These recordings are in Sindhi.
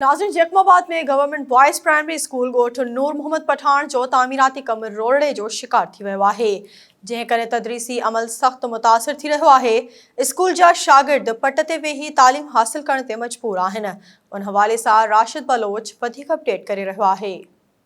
ناظرين Jacobabad ۾ government boys primary school ڳوٺ نور محمد پٺاڻ جو تعميراتي ڪم روئڙي جو شڪار ٿي ويو آهي جنهن ڪري تدريسي عمل سخت متاثر ٿي رهيو آهي اسڪول جا شاگرد پٽ تي ويهي تعليم حاصل ڪرڻ تي مجبور آهن ان حوالي سان راشد بلوچ وڌيڪ اپڊيٽ ڪري رهيو آهي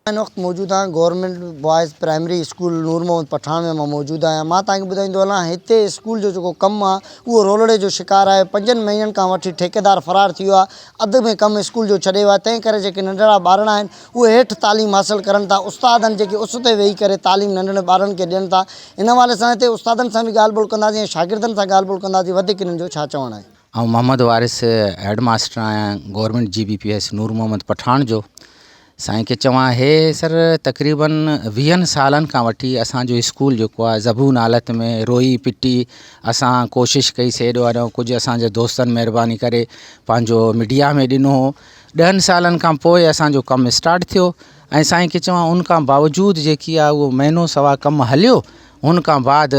هن وقت موجود آهيان government boys primary school Noor Muhammad Pathan ۾ مان موجود آهيان مان توهان کي ٻڌائيندو هلان هتي اسڪول جو جيڪو ڪم آهي اهو رولڙي جو شڪار آهي پنجن مهينن کان وٺي ٺيڪيدار فرار ٿي ويو آهي اڌ ۾ ڪم اسڪول جو ڇڏي ويو آهي تنهن ڪري جيڪي ننڍڙا ٻارڙا آهن اهي هيٺ تعليم حاصل ڪرن ٿا استادن جيڪي اس تي ويهي ڪري تعليم ننڍڙن ٻارڙن کي ڏين ٿا ان حوالي سان هتي استادن سان به ڳالهه ٻولهه ڪنداسين ۽ شاگردن سان ڳالهه ٻولهه ڪنداسين وڌيڪ هنن جو ڇا چوڻ آهي. آئون محمد وارث هيڊ ماستر آهيان گورنمينٽ جي B P S Noor Muhammad Pathan جو سائين کي چوان هي سر تقريباً ويهن سالن کان وٺي اسان جو اسڪول جيڪو آهي زبون حالت ۾ روئي پٽي اسان ڪوشش ڪئي سي ايڏو آڏو ڪجهه اسان جي دوستن مهرباني ڪري پنهنجو ميڊيا ۾ ڏنو هو ڏهن سالن کان پوء اسان جو ڪم اسٽارٽ ٿيو ۽ سائين کي چوان ان کان باوجود جيڪي آهي اهو مهينو سوا ڪم هليو هن کان بعد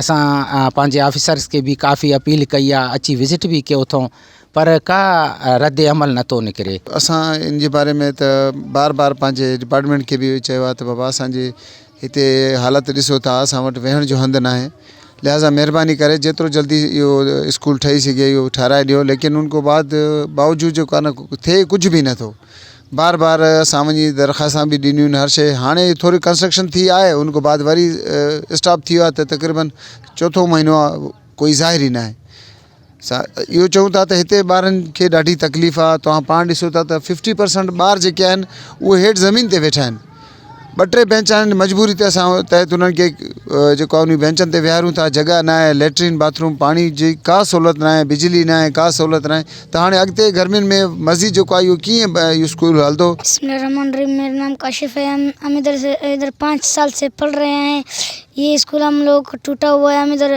اسان پنهنجي آفيسرز کي به ڪافي اپيل ڪئي آ اچي وزٽ به ڪيو اٿئون پر ڪا رد عمل نٿو نڪري. اسان ان جي باري ۾ ته بار بار پنهنجي ڊپارٽمينٽ کي به چيو آهي ته بابا اسان جي هتي حالت ڏسو ٿا اسان وٽ ويهڻ جو هنڌ ناهي لهذا مهرباني ڪري جيترو جلدي اهو اسڪول ٺهي سگهي اهو ٺهرائي ڏيو ليڪن ان کان بعد باوجود جو ڪانه ٿئي ڪجهه به نٿو بار بار اسان وڃي درخواستان به ڏنيون هر شيء هاڻي ٿوري ڪنسٽرڪشن ٿي آهي ان کان بعد وري اسٽاپ ٿي ويو آهي ته تقريبن چوٿون مهينو آهي ڪوئي ظاهر ئي ناهي سا اهو چون ٿا ته هتي ٻارن کي ڏاڍي تڪليف آهي توهان پاڻ ڏسو ٿا ته ففٽي پرسنٽ ٻار جيڪي آهن اهي هيٺ زمين تي ويٺا آهن ٻه ٽي بينچ آهن مجبوري تي اسان تحت انهن کي جيڪو انهن بينچن تي ويهاريون ٿا جڳهه نه آهي ليٽرين باٿروم پاڻي جي ڪا سهولت نه آهي بجلي نه آهي ڪا سهولت نه آهي ته هاڻي اڳتي گرمين ۾ مزيد جيڪو آهي اهو ڪيئن اهو اسڪول هلندو بسم الله الرحمٰن الرحيم ميرا نام ڪاشف هي هم ادھر پانچ سال سي پڙھ رھي هين يھ اسڪول ھم لوگ ڪو ٽوٽا ھوا ھي ھم ادھر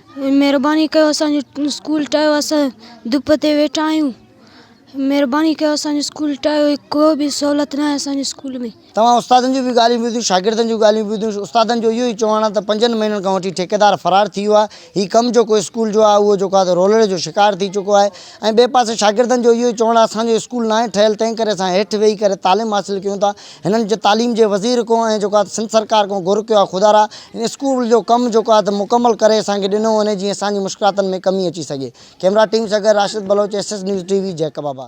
مھرباني ڪيو اسان جو اسڪول ٽاھيو اسان ڌپ تي ويٺا آھيون مھرباني ڪيو اسان جو اسڪول ٽاھيو ڪو به سھولت ناھي اسان جي اسڪول ۾. توھان استادن جون به ڳالھيون ٻڌيون شاگردن جون ڳالھيون ٻڌيون استادن جو اھو ئي چوڻ آھي ته پنجن مھينن کان وٺي ٺيڪيدار فرار ٿي ويو آھي ھي ڪم جيڪو اسڪول جو آھي اھو جيڪو آھي سو رولڙي جو شڪار ٿي چڪو آھي ۽ ٻئي پاسي شاگردن جو اھو ئي چوڻ آھي اسان جو اسڪول ناھي ٺھيل تنھن ڪري اسان ھيٺ ويھي ڪري تعليم حاصل ڪيون ٿا هنن جي تعليم جي وزير کون ۽ جيڪو آهي سنڌ سرڪار کون گهر ڪيو آهي خدارا هن اسڪول جو ڪم جيڪو آهي ته مڪمل ڪري اسان کي ڏنو وڃي جيئن اسان جي مشڪلاتن ۾ ڪمي اچي سگهي ڪيمرا ٽيم سان گڏ Rashid Baloch S S news T V Jacobabad.